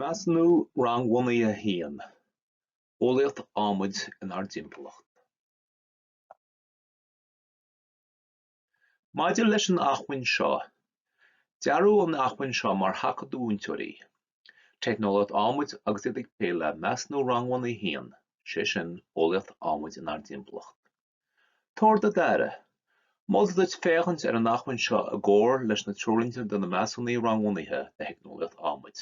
Measúnú Rangbhunaithe 1, Eolaíocht adhmaid inár dtimpeallacht Maidir leis an acmhainn seo, dearadh an acmhainn seo mar thaca do mhúinteoirí, teicneolaíocht adhmaid agus iad ag plé le Measúnú Rangbhunaithe 1, sé sin, eolaíocht adhmaid inár dtimpeallacht. Tabhair do d'aire, Moltar duit féachaint ar an acmhainn seo i gcomhar leis na Treoirlínte do na Measúnuithe Rangbhunaithe do Theicneolaíocht Adhmaid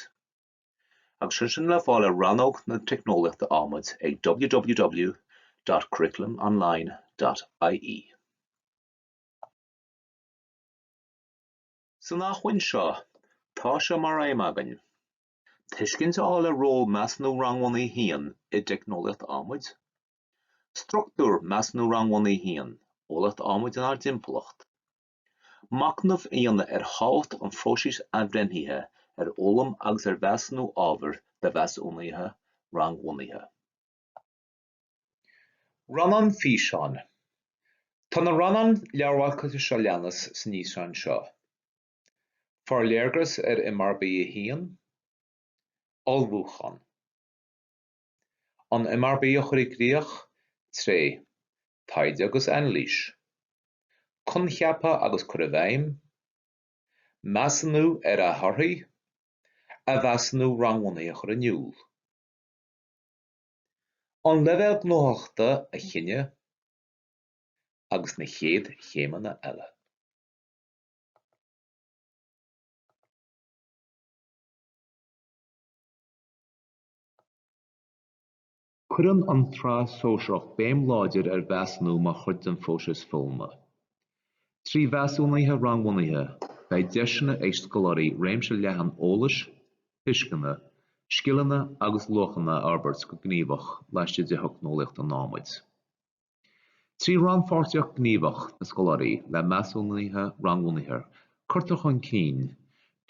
agus iad sin le fáil ar Rannóg na Teicneolaíochta Adhmaid ag www.curriculumonline.ie. San acmhainn seo, tá sé mar aidhm againn tuiscint a fháil ar ról Measúnú Rangbhunaithe 1 i dteicneolaíocht adhmaid, Struchtúr Measúnú Rangbhunaithe 1, Eolaíocht Adhmaid inár dTimpeallacht. Machnamh a dhéanamh ar thábhacht an phróisis athbhreithnithe ar fhoghlaim agus ar mheasúnú ábhair do mheasúnuithe rangbhunaithe. Rannán Físeáin Tá na rannáin leabharmharcáilte seo a leanas san fhíseán seo, Forléargas ar MRB 1, Ullmhúchán. an MRB a chur i gcrích, tré taighde agus anailís, coincheapa agus cur i bhfeidhm, measúnú ar a thorthaí, a mheasúnú rangbhunaithe a chur in iúl, an leibhéal gnóthachtála a chinneadh agus na chéad chéimeanna eile. Cuireann an tSraith Shóisearach béim láidir ar mheasúnú mar chuid den phróiseas foghlama. Trí mheasúnuithe rangbhunaithe, beidh deiseanna ag scoláirí réimse leathan eolais, tuisceana, scileanna agus luachanna a fhorbairt go gníomhach laistigh de theicneolaíocht an adhmaid. Trí rannpháirtíocht ghníomhach na scoláirí le measúnuithe rangbhunaithe, cuirtear chun cinn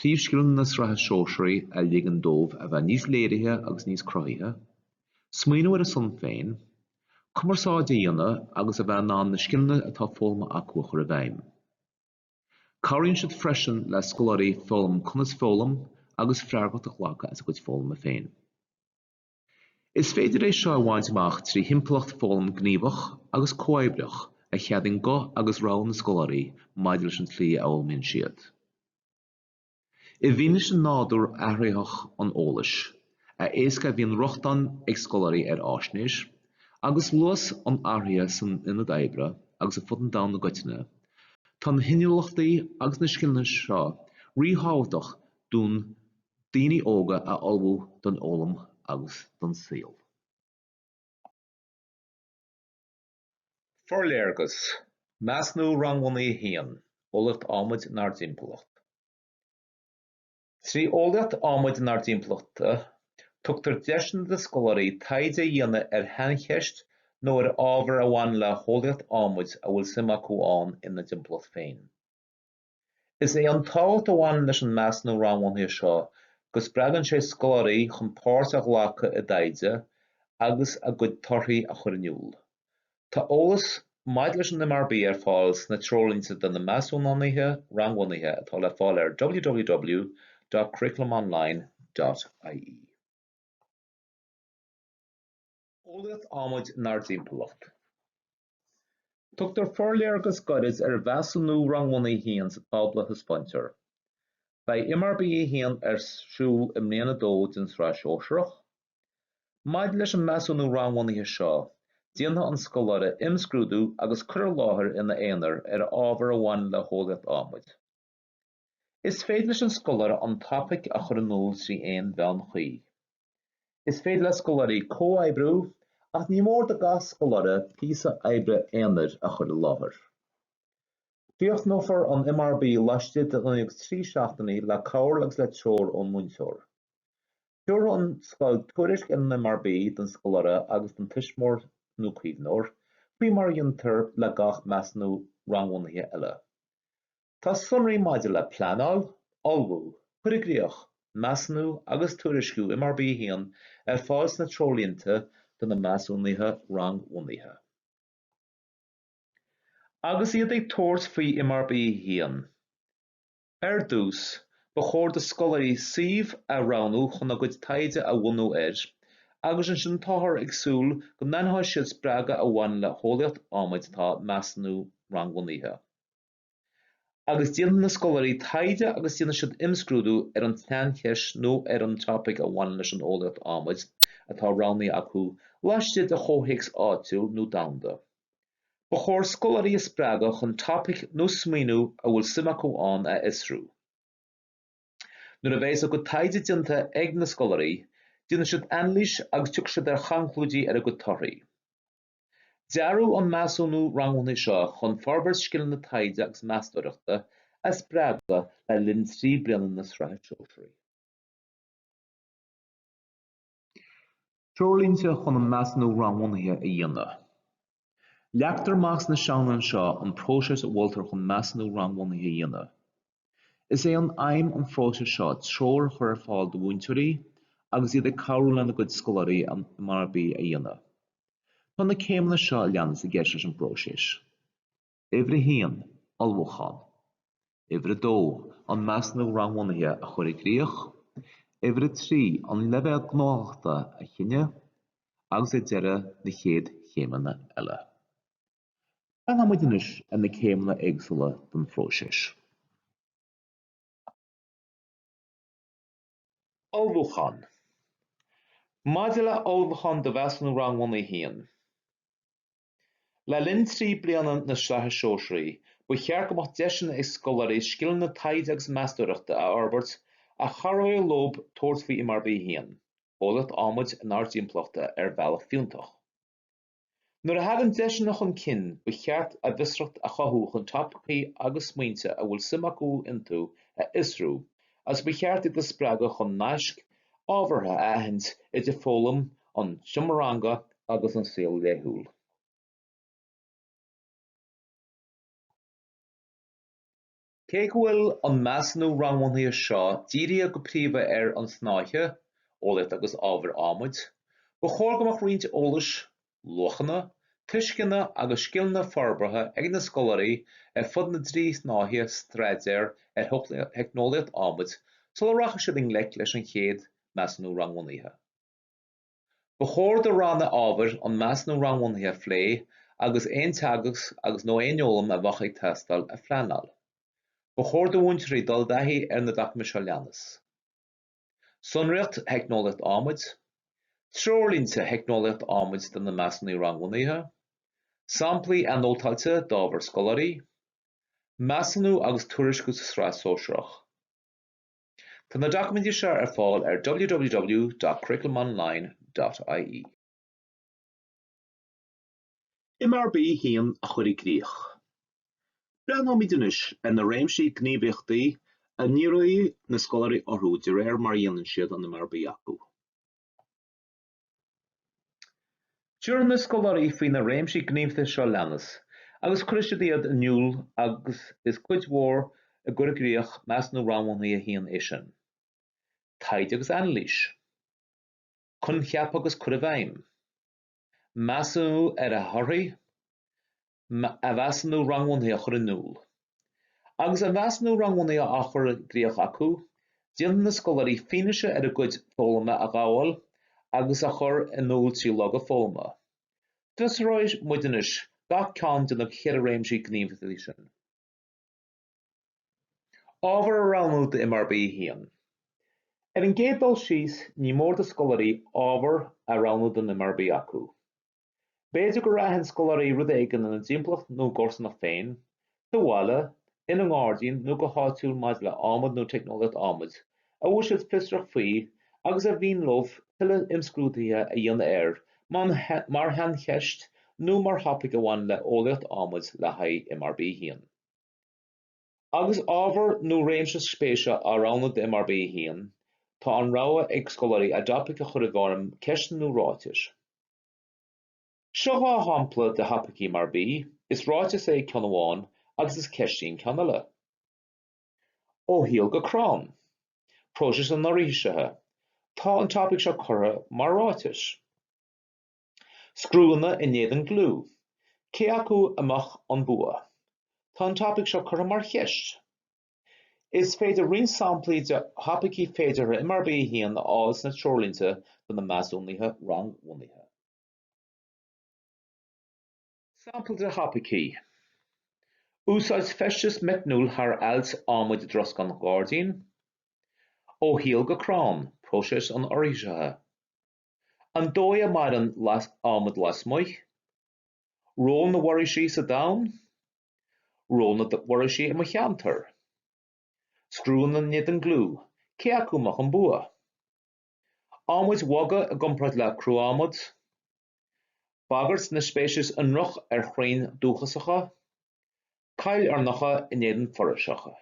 príomhscileanna na sraithe sóisearaí a ligeann dóibh a bheith níos léirithe agus níos cruthaithe, smaoiniú ar a son féin, cumarsáid a dhéanamh agus a bheith in ann na scileanna atá foghlamtha acu a chur i bhfeidhm. Cabhraíonn siad freisin le scoláirí foghlaim conas foghlaim agus freagracht a ghlacadh as a gcuid foghlama féin. Is féidir é seo a bhaint amach trí thimpeallacht foghlaim gníomhach agus comhoibríoch a cheadaíonn guth agus rogha na scoláirí maidir leis an tslí a fhoghlaimíonn siad. I bhfianaise nádúr athraitheach an eolais, a éasca a bhíonn rochtain ag scoláirí ar fháisnéis, agus luas an athraithe san ionad oibre agus ar fud an domhain i gcoitinne, tá na hinniúlachtaí agus na scileanna seo ríthábhachtach don daoine óga a ullmhú don fhoghlaim agus don saol. Forléargas, Measúnú Rangbhunaithe 1, Eolaíocht Adhmaid inár dTimpeallacht Trí eolaíocht adhmaid inár dtimpeallacht, tugtar deiseanna do scoláirí taighde a dhéanamh ar shaincheist nó ar ábhar a bhaineann le heolaíocht adhmaid a bhfuil suim acu ann ina dtimpeallacht féin. Is é an tábhacht a bhaineann leis an measúnú rangbhunaithe seo go spreagann sé scoláirí chun páirt a ghlacadh i dtaighde agus a gcuid torthaí a chur in iúl. Tá eolas maidir leis an MRB ar fáil sna Treoirlínte do na Measúnánaithe Rangbhunaithe atá le fáil ar www.curriculumonline.ie. Eolaíocht adhmaid inár dtimpeallacht. Tugtar forléargas gairid ar mheasúnú Rangbhunaithe 1 sa tábla a thaispeáintear. Beidh MRB 1 ar siúl i mbliain 2 den tSraith Shóisearach. Maidir leis an measúnú rangbhunaithe seo, déanfaidh an scoláire imscrúdú agus cur i láthair ina aonar ar ábhar a bhaineann le heolaíocht adhmaid. Is féidir leis an scoláire an topaic a chur in iúl trí aon mheán cuí. Is féidir le scoláirí comhoibriú ach ní mór do gach scoláire píosa oibre aonair a chur i láthair. Críochnófar an MRB laistigh d'imeacht trí seachtainí le cabhair agus le treoir ón múinteoir. Tabharfaidh an scoil tuairisc ar an MRB don scoláire agus don tuismitheoir nó caomhnóir, faoi mar a dhéantar le gach measúnú rangbhunaithe eile. Tá sonraí maidir le pleanáil, ullmhú, cur i gcríoch, measúnú agus tuairisciú MRB 1 ar fáil sna treoirlínte do na measúnuithe rangbhunaithe. Agus iad ag tabhairt faoi MRB 1, ar dtús, ba chóir do scoláirí suíomh a roghnú chun a gcuid taighde a bhunú air agus ansin táthar ag súil go n-aithneoidh siad spreagadh a bhaineann le heolaíocht adhmaid atá measúnú rangbhunaithe. agus déanfaidh na scoláirí taighde agus déanfaidh siad imscrúdú ar an tsaincheist nó ar an topaic a bhaineann leis an eolaíocht adhmaid atá roghnaithe acu laistigh de chomhthéacs áitiúil nó domhanda. Ba chóir scoláirí a spreagadh chun topaic nó smaoiniú a bhfuil suim acu ann a fhiosrú. Nuair a bheas a gcuid taighde déanta ag na scoláirí, déanfaidh siad anailís agus tiocfaidh siad ar chonclúidí ar a gcuid torthaí. Dearadh an measúnú rangbhunaithe seo chun forbairt scileanna taighde agus meastóireachta a spreagadh le linn trí bliana na Sraithe Sóisearaí. Treoirlínte chun an Measúnú Rangbhunaithe a dhéanamh. Leagtar amach sna céimeanna seo an próiseas a mholtar chun measúnú rangbhunaithe a dhéanamh. Is é aidhm an phróisis seo treoir a chur ar fáil do mhúinteoirí agus iad ag cabhrú lena gcuid scoláirí an MRB a dhéanamh. Tá na céimeanna seo a leanas i gceist leis an bpróiseas. Uimhir 1, Ullmhúchán. Uimhir 2, An Measúnú Rangbhunaithe a chur i gcrích. Uimhir 3, An leibhéal gnóthachta a chinneadh. Agus ar deireadh, na chéad chéimeanna eile. Breathnóimid anois ar na céimeanna éagsúla den phróiseas. Ullmhúchán Maidir le hullmhúchán do Mheasúnú Rangbhunaithe a haon, le linn trí bliana na Sraithe Sóisearaí, ba cheart go mbeadh deiseanna ag scoláirí scileanna taighde agus meastóireachta a fhorbairt a chabhróidh leo tabhairt faoi MRB a haon, Eolaíocht Adhmaid inár dTimpeallacht, ar bhealach fiúntach. Nuair a thagann deiseanna chun cinn, ba cheart a bhfiosracht a chothú chun topaicí agus smaointe a bhfuil suim acu iontu a fhiosrú agus ba cheart iad a spreagadh chun naisc ábhartha a aithint idir foghlaim an tseomra ranga agus an saol laethúil. Cé go bhfuil an measúnú rangbhunaithe seo dírithe go príomha ar an snáithe, Eolaíocht agus Ábhair Adhmaid, ba chóir go mbeadh roinnt eolais, luachanna, tuisceana agus scileanna forbartha ag na scoláirí ar fud na dtrí shnáithe staidéir ar theicneolaíocht adhmaid sula rachaidh siad i ngleic leis an chéad measúnú rangbhunaithe. Ba chóir do Ranna ábhair an measúnú rangbhunaithe a phlé agus aon teagasc agus, nó aon fhoghlaim a bheadh ag teastáil a phleanáil. Ba chóir do mhúinteoirí dul i dtaithí ar na doiciméid seo leanas, Sonraíocht Theicneolaíocht Adhmaid, Treoirlínte Theicneolaíocht Adhmaid do na Measúnuithe Rangbhunaithe, Samplaí Anótáilte d'Obair Scoláirí, Measúnú agus Tuairisciú sa Sraith Sóisearach. Tá na doiciméid seo ar fáil ar www.curriculumonline.ie. MRB 1 a chur i gcrích. Breathnóimid anois ar na réimsí gníomhaíochtaí a ndíreoidh na scoláirí orthu de réir mar a dhéanann siad an MRB acu. Tabharfaidh na scoláirí faoi na réimsí gníomhaíochta seo leanas agus cuirfidh siad iad in iúl agus is cuid mhór i gcur i gcrích Measúnú Rangbhunaithe 1 é sin. Taighde agus anailís. Coincheapa a chur i bhfeidhm. Measúnú ar a thorthaí. a measúnú rangbhunaithe a chur in iúl. Agus a measúnú rangbhunaithe á chur i gcríoch acu, déanfaidh na scoláirí fianaise ar a gcuid foghlama a ghabháil agus a chur in iúl trí loga foghlama. Fiosróidh muid anois gach ceann de na ceithre réimsí gníomhaíochtaí sin. Ábhar a roghnú do MRB 1. Ar an gcéad dul síos, ní mór do scoláirí ábhar a roghnú don MRB acu. B'fhéidir go n-aithneodh scoláirí rud éigin ina dtimpeallacht nó a gcomharsanacht féin, sa bhaile, ina ngairdín nó go háitiúil maidir le adhmad nó teicneolaíocht adhmaid, a bhfuil siad fiosrach faoi agus ar mhian leo tuilleadh imscrúdaithe a dhéanamh air mar shaincheist nó mar thopaic a bhaineann le heolaíocht adhmaid le haghaidh MRB. 1. Agus ábhar nó réimse spéise á roghnú do MRB 1, tá an rogha ag scoláirí a dtopaic a chur i bhfoirm ceisteanna nó ráitis. Seo dhá shampla de thopaicí MRB, is ráiteas é ceann amháin agus is ceist í an ceann eile. Ó shíol go crann. Próiseas an fhoraoisithe. Tá an topaic seo curtha mar ráiteas. Scriúnna in éadan gliú, cé acu a mbeadh an bua? Tá an topaic seo curtha mar cheist. Is féidir roinnt samplaí de thopaicí féideartha MRB 1 a fháil sna treoirlínte do na measúnuithe rangbhunaithe. Sampla de thopaicí, Úsáid feisteas meicniúil thar ailt adhmaid i dtroscán gairdín, Ó shíol go crann, próiseas an fhoraoisithe. an dóigh a maireann adhmad lasmuigh, ról na bhforaoisí sa domhan, ról na bhforaoisí i mo cheantar, scriúnna in éadan gliú, cé acu a mbeadh an bua? adhmad bog i gcomparáid le cruadhmad, bagairt na speiceas ionrach ar chrainn dúchasacha, coillearnacha in éadan foraoiseacha.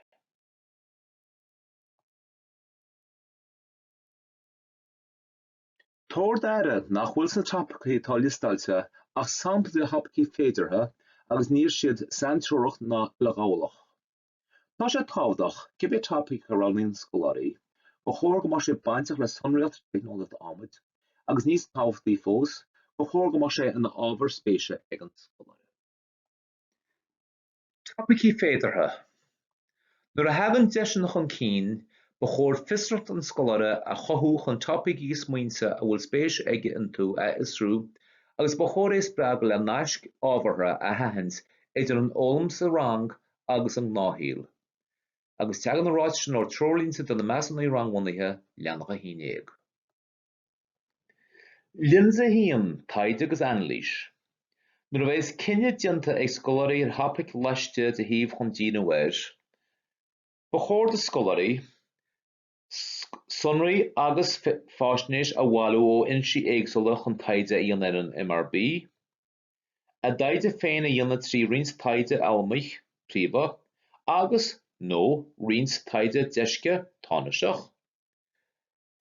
Tabhair d'aire nach bhfuil sna topaicí atá liostáilte ach samplaí de thopaicí féideartha agus níl siad saintreorach ná uileghabhálach. Tá sé tábhachtach, cibé topaic a roghnaíonn scoláirí, gur chóir go mbeadh sé bainteach le sonraíocht teicneolaíocht adhmaid agus níos tábhachtaí fós, gur chóir go mbeadh sé ina ábhar spéise ag an scoláire. Topaicí féideartha, Nuair a thagann deiseanna chun cinn, ba chóir fiosracht an scoláire a chothú chun topaicí smaointe a bhfuil spéis aige iontu a fhiosrú agus ba chóir é spreagadh le naisc ábhartha a aithint idir an fhoghlaim sa rang agus an gnáthshaol agus teagann an ráiteas sin ó Threoirlínte do na Measúnuithe Rangbhunaithe, Leathanach 11. Lionsa 1, Taighde agus Anailís, Nuair a bheas cinneadh déanta ag scoláirí ar thopaic laistigh de shuíomh chun díriú air, ba chóir do scoláirí sonraí agus faisnéis a bhailiú ó fhoinsí éagsúla chun taighde a dhéanamh ar an MRB, a dtaighde féin a dhéanamh trí roinnt taighde allamuigh príomha agus, nó roinnt taighde deisce, tánaisteach.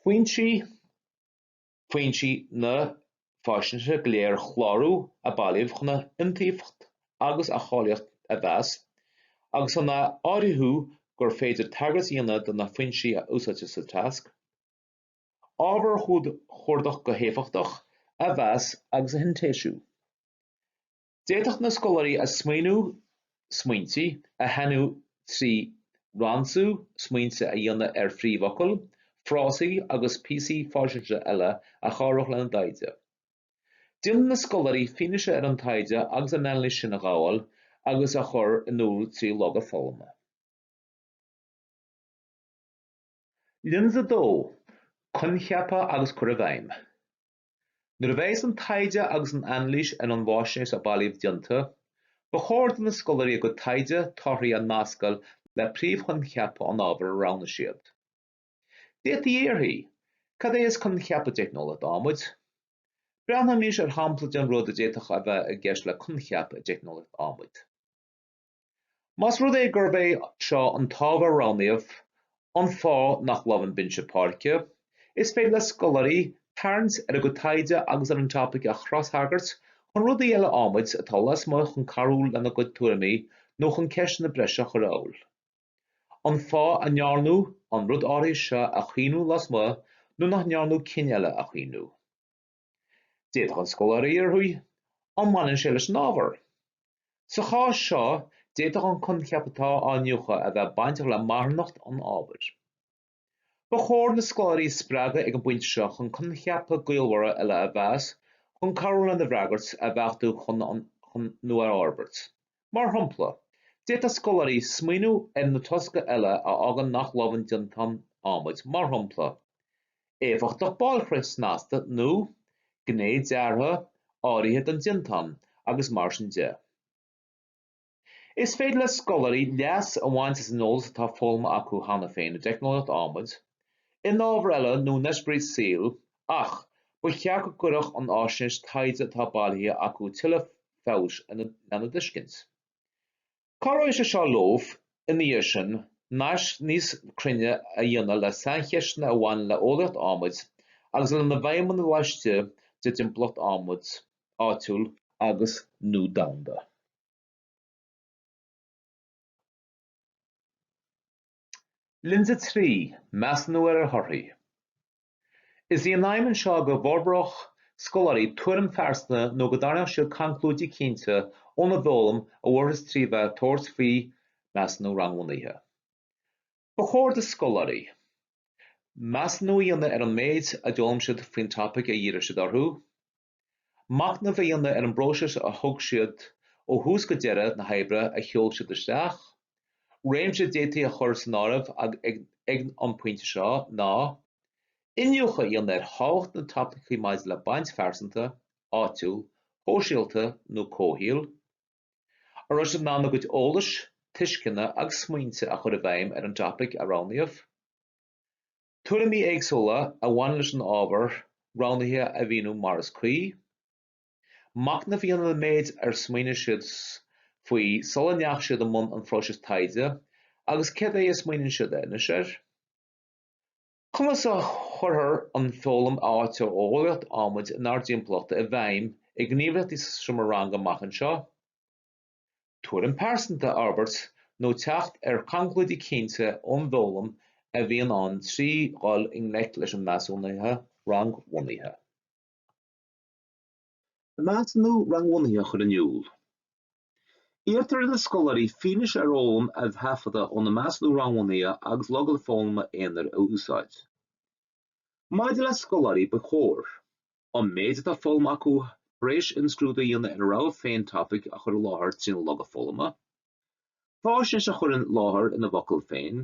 Foinsí na faisnéise go léir a chlárú, a bailíodh chun a iontaofacht agus a cháilíocht a mheas, agus chun a áirithiú gur féidir tagairt a dhéanamh do na foinsí a úsáidtear sa tasc. Ábhar a chuardach go héifeachtach a mheas agus a shintéisiú. D'fhéadfadh na scoláirí a smaoineamh smaointe a shainiú trí ransú smaointe a dhéanamh ar phríomhfhocail, frásaí agus píosaí faisnéise eile a chabhródh lena dtaighde. Déanann na scoláirí fianaise ar an taighde agus an anailís sin a ghabháil agus a chur in iúl trí loga foghlama. Lionsa 2, Coincheapa agus Cur i bhFeidhm. Nuair a bheas an taighde agus an anailís ar an bhfaisnéis a bailíodh déanta, ba chóir do na scoláirí a gcuid taighde torthaí a nascadh le príomhchoincheapa an ábhair a roghnaigh siad. D'fhéadfaí a fhiafraí, Cad é is coincheap i dteicneolaíocht adhmaid? Breathnóimís ar shampla den rud a d'fhéadfadh a bheith i gceist le coincheap i dteicneolaíocht adhmaid. Más rud é gurb é seo an t-ábhar a roghnaíodh, an fáth nach lobhann binse páirce, is féidir le scoláirí tarraingt ar a gcuid taighde agus ar an topaic a chrostagairt chun rudaí eile adhmaid atá lasmuigh chun cabhrú lena gcuid tuairimí nó chun ceisteanna breise a chur amhail an fáth a ndearnadh an rud áirithe seo a chaomhnú lasmuigh nó nach ndearnadh cinn eile a chaomhnú. D'fhéadfadh an scoláire a fhiafraí an mbaineann sé leis an ábhar. Sa chás seo, d'fhéadfadh an coincheap atá á iniúchadh a bheith bainteach le marthanacht an ábhair. Ba chóir na scoláirí a spreagadh ag an bpointe seo chun coincheapa gaolmhara eile a mheas chun cabhrú lena bhfreagairt a bheachtú chun nó a fhorbairt. Mar shampla, d'fhéadfadh scoláirí smaoineamh ar na tosca eile a fhágann nach lobhann déantáin adhmaid, mar shampla, éifeachtacht bailchríche snasta nó gné deartha áirithe den déantán, agus mar sin de. Is féidir le scoláirí leas a bhaint as an eolas atá foghlamtha acu cheana féin i dteicneolaíocht adhmaid, in ábhair eile nó in eispéiris saoil ach ba cheart go gcuirfeadh an fhaisnéis taighde atá bailithe acu tuilleadh feabhais lena dtuiscint. Cabhróidh sé seo leo, ina dhiaidh sin, naisc níos cruinne a dhéanamh le saincheisteanna a bhaineann le heolaíocht adhmaid agus lena bhfeidhmeanna laistigh de thimpeallacht adhmaid áitiúil agus, nó domhanda. Lionsa 3, Measúnú ar thorthaí. Is í an aidhm anseo go bhforbródh scoláirí tuairim phearsanta nó go dtarraingeodh siad conclúidí cinnte óna bhfoghlaim a bhfuarthas trí bheith ag tabhairt faoi mheasúnú rangbhunaithe. Ba chóir do scoláirí measúnú a dhéanamh ar an méid a d'fhoghlaim siad faoin topaic ar dhírigh siad orthu, Machnamh a dhéanamh ar an bpróiseas a thug siad ó thús go deireadh na hoibre a sheol siad isteach. Réimse a d'fhéadfaí a chur san áireamh ag an bpointe seo ná iniúchadh a dhéanamh ar thábhacht na topaice maidir le baint phearsanta, áitiúil, shóisialta nó comhshaoil, an raibh siad in ann a gcuid eolais, tuisceana agus smaointe a chur i bhfeidhm ar an topaic a roghnaíodh. Tuairimí éagsúla a bhaineann leis an ábhar roghnaithe a mhíniú mar is cuí. Machnamh a dhéanamh ar an méid ar smaoinigh siad faoi sula ndeachaigh siad i mbun an phróisis taighde agus cad é a smaoiníonn siad anois air. Conas a chuirtear an fhoghlaim ó thaobh eolaíocht adhmaid inár dtimpeallacht i bhfeidhm i ngníomhaíochtaí sa seomra ranga amach anseo. tuairim phearsanta a fhorbairt nó teacht ar chonclúidí cinnte ón bhfoghlaim a bhíonn ann trí dhul i ngleic leis an measúnú rangbhunaithe. An measúnú rangbhunaithe a chur in iúl, iarrtar ar na scoláirí fianaise ar fhoghlaim a thaifeadadh óna measúnú rangbhunaithe agus loga foghlama aonair a úsáid. Maidir le scoláirí, ba chóir. an méid atá foghlamtha acu tar éis imscrúdú a dhéanamh ar a rogha féin topaic a chur i láthair trína loga foghlama, faisnéis a chur i láthair ina bhfocail féin,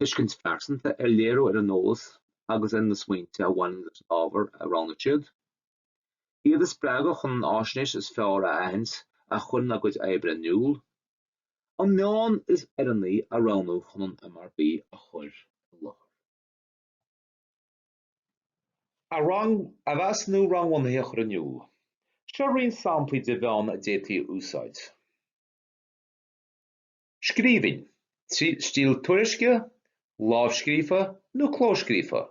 tuiscint phearsanta a léiriú ar an eolas agus ar na smaointe a bhaineann leis an ábhar a roghnaigh siad, iad a spreagadh chun an fhaisnéis is fearr a aithint a chuireann a gcuid oibre in iúl, an meán is oiriúnaí a roghnú chun an MRB a chur i láthair. an measúnú rangbhunaithe a chur in iúl. Seo roinnt samplaí de mheán a d'fhéadfaí a úsáid. Scríbhinn, stíl tuairisce, lámhscríofa nó clóscríofa,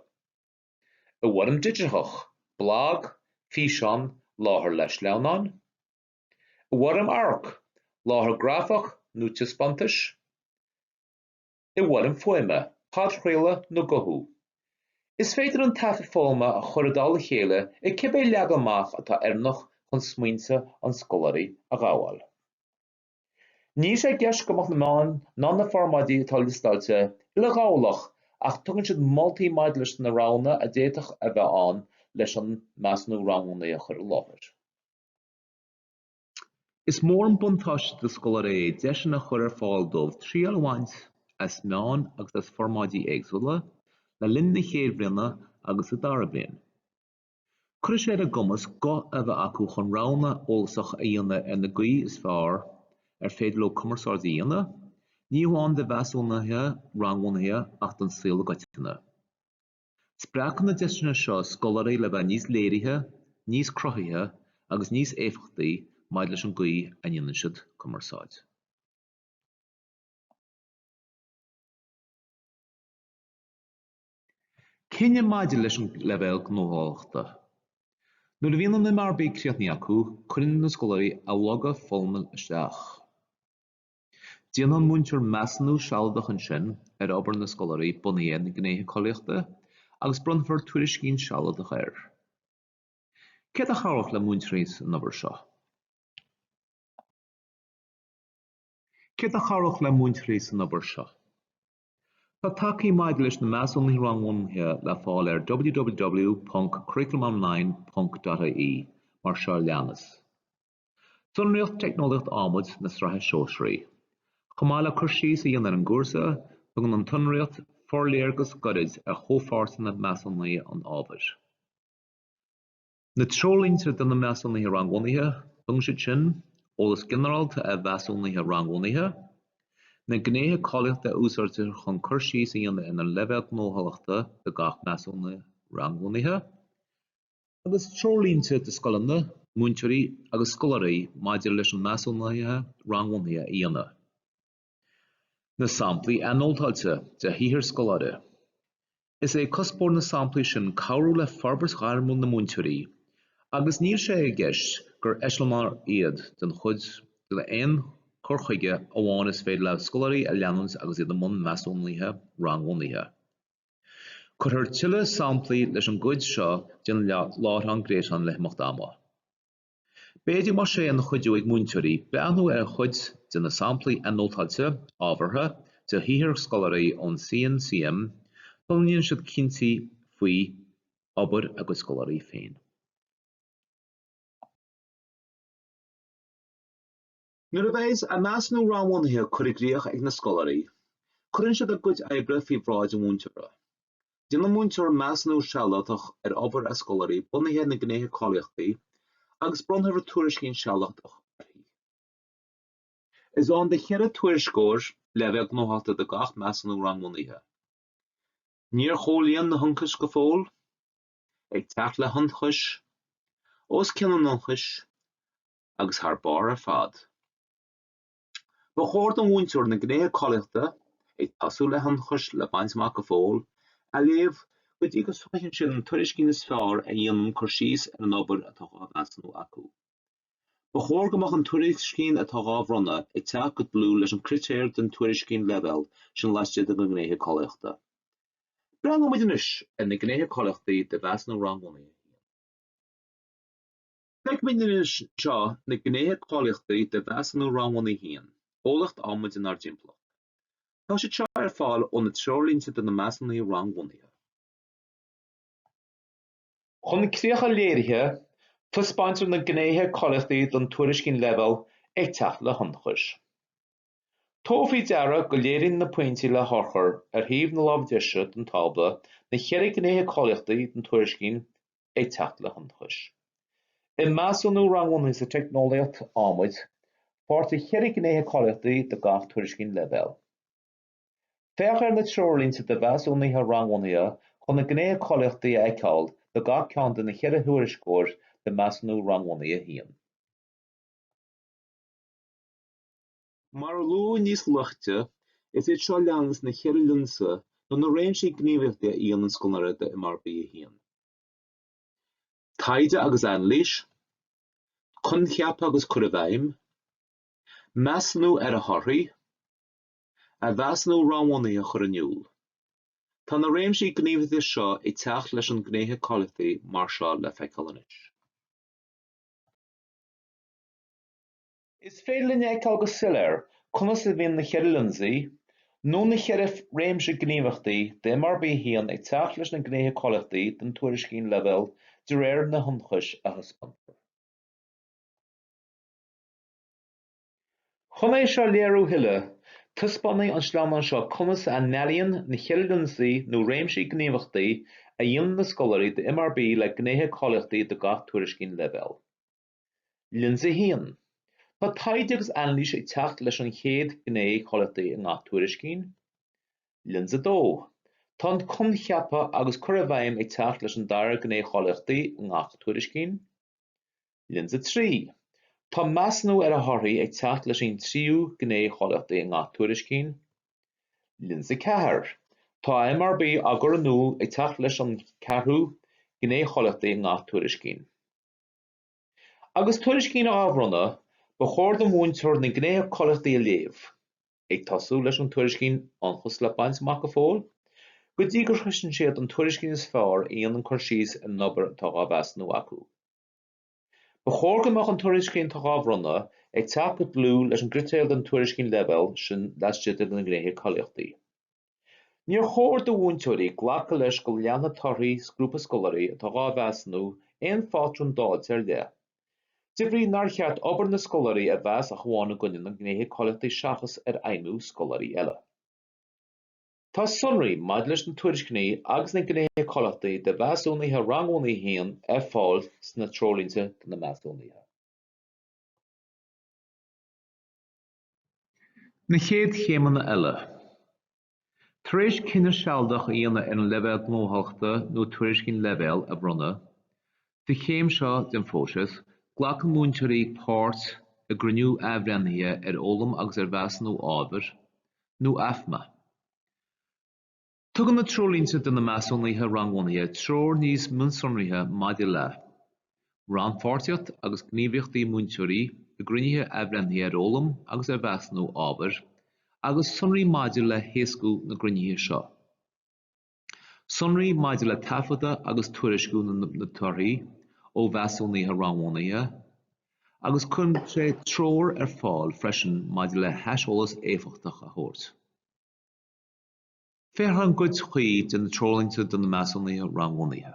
i bhfoirm digiteach, blag, físeán, láithriú le sleamhnáin, i bhfoirm amharc, láithriú grafach nó taispeántais, i bhfoirm fuaime, podchraoladh nó guthú. Is féidir an taifead foghlama a chur i dtoll a chéile i cibé leagan amach atá oiriúnach chun smaointe na scoláirí a ghabháil. Níl sé i gceist go mbeadh na meáin ná na formáidí atá liostáilte uileghabhálach ach tugann siad moltaí maidir leis na roghanna a d'fhéadfadh a bheith ann leis an measúnú rangbhunaithe a chur i láthair. Is mór an buntáiste do scoláirí é deiseanna a chur ar fáil dóibh triail a bhaint as meáin agus as formáidí éagsúla le linn na chéad bhliana agus na dara bliain. Cuirfidh sé ar a gcumas guth a bheith acu chun roghanna eolasacha a dhéanamh ar an gcaoi is fearr ar féidir leo cumarsáid a dhéanamh, ní hamháin do mheasúnuithe rangbhunaithe ach don saol i gcoitinne. Spreagfaidh na deiseanna seo scoláirí le bheith níos léirithe, níos cruthaithe agus níos éifeachtaí maidir leis an gcaoi a ndéanann siad cumarsáid. Cinneadh maidir leis an leibhéal gnóthachtála. Nuair a bhíonn an MRB críochnaithe acu, cuireann na scoláirí a loga foghlama isteach. Déanfaidh an múinteoir measúnú sealadach ansin ar obair na scoláirí bunaithe ar na Gnéithe Cáilíochta agus bronnfar tuairiscín sealadach air. Céard a chabhródh le múinteoirí san obair seo? Céard a chabhródh le múinteoirí san obair seo? Tá tacaí maidir leis na measúnuithe rangbhunaithe le fáil ar www.curriculumonline.ie, mar seo a leanas. Sonraíocht teicneolaíocht adhmaid na Sraithe Sóisearaí. Chomh maith le cur síos a dhéanamh ar an gcúrsa, tugann an tsonraíocht forléargas gairid ar chomhpháirteanna measúnaithe an ábhair. Na Treoirlínte do na Measúnuithe Rangbhunaithe, tugann siad sin eolas ginearálta ar mheasúnuithe rangbhunaithe, na gnéithe cáilíochta a úsáidtear chun cur síos a dhéanamh ar na leibhéil ghnóthachtála do gach measúnú rangbhunaithe, agus treoirlínte do scoileanna, múinteoirí agus scoláirí maidir leis an measúnú rangbhunaithe a dhéanamh. Na samplaí anótáilte de shaothar scoláire, is é cuspóir na samplaí sin cabhrú le forbairt ghairmiúil na múinteoirí agus níl sé i gceist gur eiseamláir iad den chuid d'aon chur chuige amháin is féidir le scoláirí a leanúint agus iad i mbun measúnuithe rangbhunaithe. Cuirfear tuilleadh samplaí leis an gcuid seo den láithreán gréasáin le himeacht ama. B'fhéidir go mbeadh sé ina chuidiú ag múinteoirí breathnú ar chuid de na samplaí anótáilte, ábhartha, de shaothar scoláirí ón CNCM sula ndéanann siad cinntí faoi obair a gcuid scoláirí féin. Nuair a bheidh a measúnú rangbhunaithe curtha i gcríoch ag na scoláirí, cuireann siad a gcuid oibre faoi bhráid an mhúinteora. Déanann an múinteoir measúnú sealadach ar obair a scoláirí bunaithe ar na Gnéithe Cáilíochtaí agus bronnfar tuairiscín sealadach uirthi. Is ann do cheithre tuairisceoir leibhéal gnóthachtála do gach measúnú rangbhunaithe. Níor chomhlíon na hionchais go fóill, ag teacht le hionchais, os cionn an ionchais, agus thar barr ar fad. Ba chóir don mhúinteoir na gnéithe cáilíochta, ag tosú le hionchais le baint amach go fóill, a léamh go dtí go socraíonn siad an tuairiscín is fearr a dhéanann cur síos ar an obair atá dhá mheasúnú acu. Ba chóir go mbeadh an tuairiscín atá dhá bhronnadh ag teacht go dlúth leis an gcritéar den tuairiscín leibhéal sin laistigh de na gnéithe cáilíochta. Breathnaíonn muid anois ar na gnéithe cáilíochtaí de mheasúnú rangbhunaithe a haon. Feicimid anseo na gnéithe cáilíochtaí de mheasúnú rangbhunaithe a haon, eolaíocht adhmaid inár dtimpeallacht. Tá siad seo ar fáil óna Treoirlínte do na Measúnuithe Rangbhunaithe. Chun críocha léirithe, taispeáintear na gnéithe cáilíochtaí don tuairiscín leibhéal ag teacht le hionchais. Tabhair faoi deara go léiríonn na pointí le hurchair ar thaobh na láimhe deise den tábla na ceithre gnéithe cáilíochtaí den tuairiscín Ag Teacht le hIonchais i Measúnú Rangbhunaithe sa Teicneolaíocht Adhmaid, Féach, tá ceithre gnéithe cáilíochtaí do gach tuairiscín leibhéal Féach ar na treoirlínte do mheasúnuithe rangbhunaithe chun na gnéithe cáilíochtaí a fheiceáil do gach ceann de na ceithre thuairisceoir de Measúnú Rangbhunaithe 1. Mar a luadh níos luaite, is iad seo leanas na ceithre lionsa nó na réimsí gníomhaíochtaí a dhéanann an scoláire d'MRB1, Taighde agus Anailís, Coincheapa agus Cur i bhFeidhm, Measúnú ar a Thorthaí, A Mheasúnú Rangbhunaithe a chur in iúl. Tá na réimsí gníomhaíochta seo ag teacht leis an gnéithe cáilíochtaí mar seo le feiceáil anois. Is féidir linn a fheiceáil go soiléir conas a bhíonn na ceithre lionsaí, nó na ceithre réimse gníomhachtaí d'MRB a haon ag teacht leis na gnéithe cáilíochtaí den tuairiscín leibhéal de réir na hionchais a thaispeántar. Chun é seo a léiriú a thuilleadh, taispeánfaidh an sleamhnán seo conas a n-ailíníonn na ceithre lionsaí nó réimsí gníomhachtaí a dhéanann na scoláirí d'MRB le gnéithe cáilíochtaí do gach tuairiscín leibhéal. Lionsa 1, Tá taighde agus anailís ag teacht leis an chéad ghné cháilíochtaí i ngach tuairiscín. Lionsa 2, Tá an coincheapadh agus cur i bhfeidhm ag teacht leis an dara gné cháilíochtaí i ngach tuairiscín. Lionsa 3, Tá measúnú ar a thorthaí ag teacht leis an tríú gné cháilíochtaí i ngach tuairiscín. Lionsa 4, Tá MRB á gcur in iúl ag teacht leis an ceathrú gné cháilíochtaí i ngach tuairiscín. Agus tuairiscín á bhronnadh, ba chóir do mhúinteoir na gnéithe cáilíochtaí a léamh, ag tosú leis an tuairiscín ionchas le baint amach go fóill, go dtí gur shroiseann siad an tuairiscín is fearr a dhéanann cur síos ar an obair atá á mheasúnú acu. Ba chóir go mbeadh an tuairiscín atá á bhronnadh ag teacht go dlúth leis an gcritéar don tuairiscín leibhéal sin laistigh de na gnéithe cáilíochtaí. Níor chóir do mhúinteoirí glacadh leis go leanfaidh torthaí grúpa scoláirí atá dhá mheasúnú aon phátrún dáilte ar leith, de bhrí nár cheart obair na scoláirí a mheas ach amháin i gcoinne na ngnéithe cáilíochtaí seachas ar fheidhmiú scoláirí eile. Tá sonraí maidir leis na tuairiscíní agus na gnéithe cáilíochtaí de mheasúnuithe rangbhunaithe 1 ar fáil sna Treoirlínte do na Measúnuithe. Na chéad chéimeanna eile. Tar éis cinneadh sealadach a dhéanamh ar an leibhéal gnóthachtála nó tuairiscín leibhéal a bhronnadh, don chéim seo den phróiseas, glacann múinteoirí páirt i gcruinniú athbhreithnithe ar fhoghlaim agus ar mheasúnú ábhair, nó AFMÁ. Tugann na Treoirlínte do na Measúnuithe Rangbhunaithe treoir níos mionsonraithe maidir le, rannpháirtíocht agus gníomhaíochtaí múinteoirí i gcruinnithe athbhreithnithe ar fhoghlaim agus ar mheasúnú ábhair, agus sonraí maidir le héascú na gcruinnithe seo, sonraí maidir le taifeadadh agus tuairisciú na dtorthaí ó mheasúnuithe rangbhunaithe, agus cuireann sé treoir ar fáil freisin maidir le haiseolas éifeachtach a thabhairt. Féach an gcuid chuí de na Treoirlínte do na Measúnuithe Rangbhunaithe.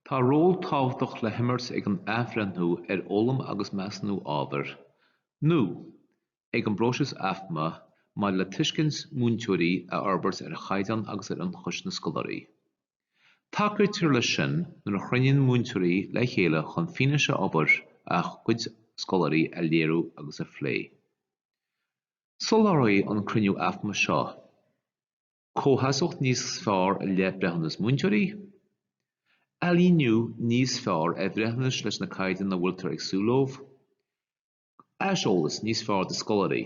Tá ról tábhachtach le himirt ag an Athbhreithniú ar Fhoghlaim agus Measúnú Ábhair, nó ag an bpróiseas AFMÁ, maidir le tuiscint múinteoirí a fhorbairt ar chaighdeán agus ar ionchais na scoláirí. Tacaítear leis sin nuair a chruinníonn múinteoirí le chéile chun fianaise obair a gcuid scoláirí a léiriú agus a phlé. Soláthróidh an cruinniú AFMÁ seo comhsheasmhacht níos fearr i leith breithiúnas múinteoirí, ailíniú níos fearr ar bhreithiúnais leis na caighdeáin a bhfuiltear ag súil leo, aiseolas níos fearr do scoláirí.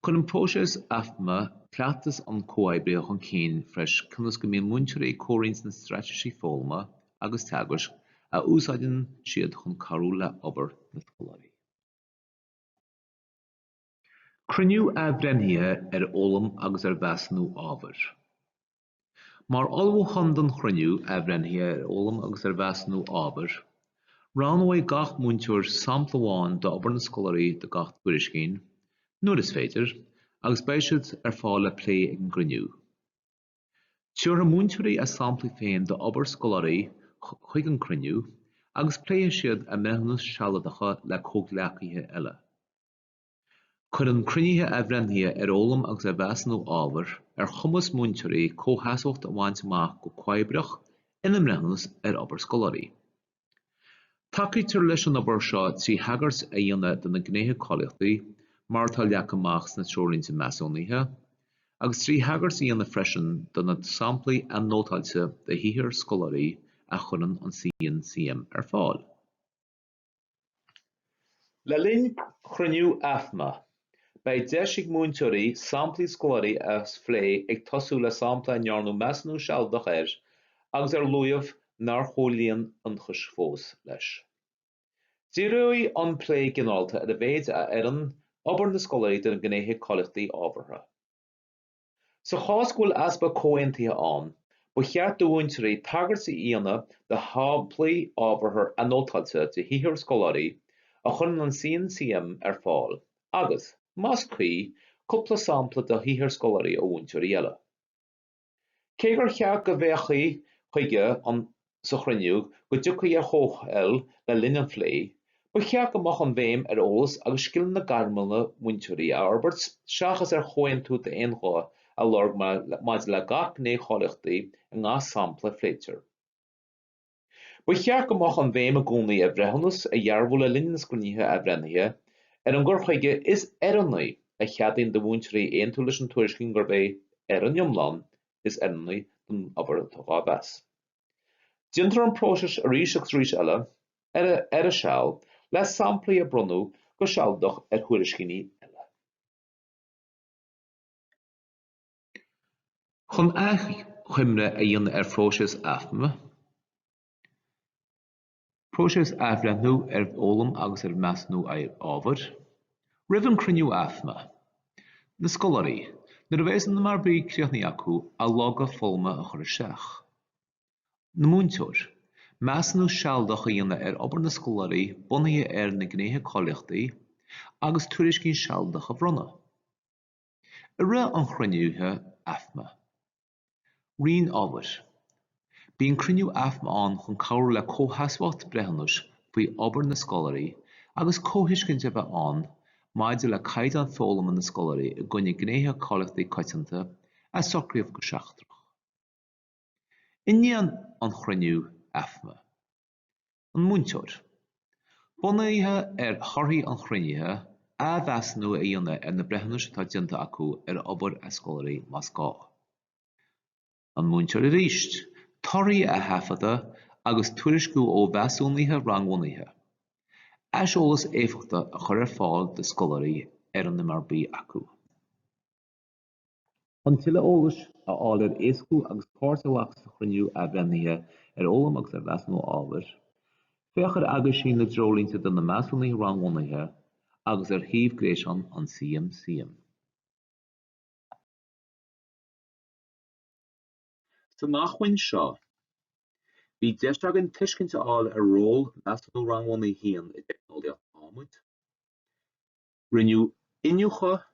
Cuireann próiseas AFMA cleachtas an Chomhoibrithe chun cinn freisin ionas go mbíonn múinteoirí ag comhroinnt na straitéisí foghlama agus teagaisc a úsáideann siad chun cabhrú le hobair na scoláirí. Cruinniú Athbhreithnithe ar Fhoghlaim agus ar Mheasúnú Ábhair. Mar ullmhúchán don chruinniú Athbhreithnithe ar Fhoghlaim agus ar Mheasúnú Ábhair, roghnóidh gach múinteoir sampla amháin d'obair na scoláirí do gach tuairiscín, nuair is féidir, agus beidh siad ar fáil le plé ag an gcruinniú. Tabharfaidh múinteoirí a samplaí féin d'obair scoláirí chuig an gcruinniú agus pléifidh siad a mbreithiúnais shealadacha le comhghleacaithe eile. Cuireann cruinnithe athbhreithnithe ar fhoghlaim agus ar mheasúnú ábhair ar chumas múinteoirí comhsheasmhacht a bhaint amach go comhoibreach ina mbreithiúnas ar obair scoláirí. Tacaítear leis an obair seo trí thagairt a dhéanamh do na Gnéithe Cáilíochtaí mar atá leagtha amach sna Treoirlínte Measúnaithe agus trí thagairt a dhéanamh freisin do na samplaí anótáilte de shaothar scoláirí a chuireann an CNCM ar fáil. Le linn chruinniú AFMA, beidh deis ag múinteoirí samplaí scoláirí a phlé ag tosú le sampla a ndearnadh measúnú sealadach air agus ar luadh nár chomhlíon ionchais fós leis. Díreoidh an plé ginearálta ar a mhéid a oireann obair na scoláirí do na gnéithe cáilíochtaí ábhartha. Sa chás go bhfuil easpa comhaontaithe ann, ba cheart do mhúinteoirí tagairt a dhéanamh do shamplaí ábhartha anótáilte de shaothar scoláirí a chuireann an CNCM ar fáil agus, más cuí, cúpla sampla de shaothar scoláirí ó mhúinteoirí eile. Cé gur cheart go bhféachfaí chuige an sa chruinniú go dtiocfaí ar chomhthoil le linn an phlé, ba cheart go mbeadh an bhéim ar eolas agus scileanna gairme na múinteoirí a fhorbairt seachas ar chomhaontú d'aon ghuth a lorg maidir le gach gné cháilíochtaí i ngach sampla a phléitear. Ba cheart go mbeadh an bhéim i gcónaí ar bhreithiúnas a dhearbhú le linn na gcruinnithe athbhreithnithe ar an gcur chuige is oiriúnaí a cheadaíonn do mhúinteoirí aontú leis an tuairiscín gurb é, ar an iomlán, is oiriúnaí don obair atá á mheas. Déantar an próiseas arís agus arís eile, ar a seal, le samplaí a bronnadh go sealadach ar thuairiscíní eile. Chun achoimre a dhéanamh ar phróiseas AFMA, Próiseas athbhreithnithe ar fhoghlaim agus ar mheasúnú ábhair, Roimh an gcruinniú AFMÁ, na scoláirí, nuair a bheidh an MRB críochnaithe acu, a loga foghlama a chur isteach. An múinteoir, Measúnú sealadach a dhéanamh ar obair na scoláirí bunaithe ar na Gnéithe Cáilíochta agus tuairiscín sealadach a bhronnadh. I rith an chruinnithe AFMÁ. Roinn Ábhair. Bíonn cruinniú AFMÁ ann chun cabhrú le comhsheasmhacht breithiúnais faoi obair na scoláirí agus comhthuiscint a bheith ann maidir le caighdeán foghlama na scoláirí i gcoinne gnéithe cáilíochta coitianta a socraíodh go seachtrach. I ndiaidh an chruinnithe AFMÁ. an múinteoir. Bunaithe ar thorthaí an chruinnithe, athmheasúnú a dhéanamh ar na breithiúnais atá déanta acu ar obair a scoláirí más gá. an múinteoir arís. Torthaí a thaifeadadh agus tuairisciú ó mheasúnuithe rangbhunaithe. Aiseolas éifeachtach a chur ar fáil do scoláirí ar an MRB acu. Chun tuilleadh eolais a fháil ar éascú agus páirt a ghlacadh sa Chruinniú Athbhreithnithe ar Fhoghlaim agus ar Mheasúnú Ábhair, féach ar Aguisín na dTreoirlínte do na Measúnuithe Rangbhunaithe agus ar shuíomh gréasáin an CNCM. San acmhainn seo, bhí deis againn tuiscint a fháil ar ról Mheasúnú Rangbhunaithe a haon i dTeicneolaíocht Adhmaid, Rinneadh iniúchadh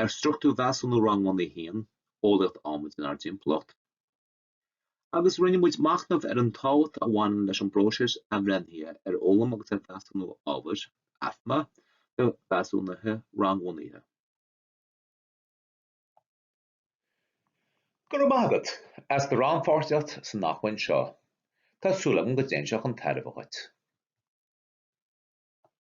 ar struchtúr Mheasúnú Rangbhunaithe 1, Eolaíocht Adhmaid inár dTimpeallacht, agus rinne muid machnamh ar an tábhacht a bhaineann leis an bpróiseas athbhreithnithe ar Fhoghlaim agus ar Mheasúnú Ábhair, AFMÁ, do Mheasúnuithe Rangbhunaithe. Go raibh maith agat as do rannpháirtíocht san acmhainn seo. Tá súil agam go dtéann sé chun tairbhe agat.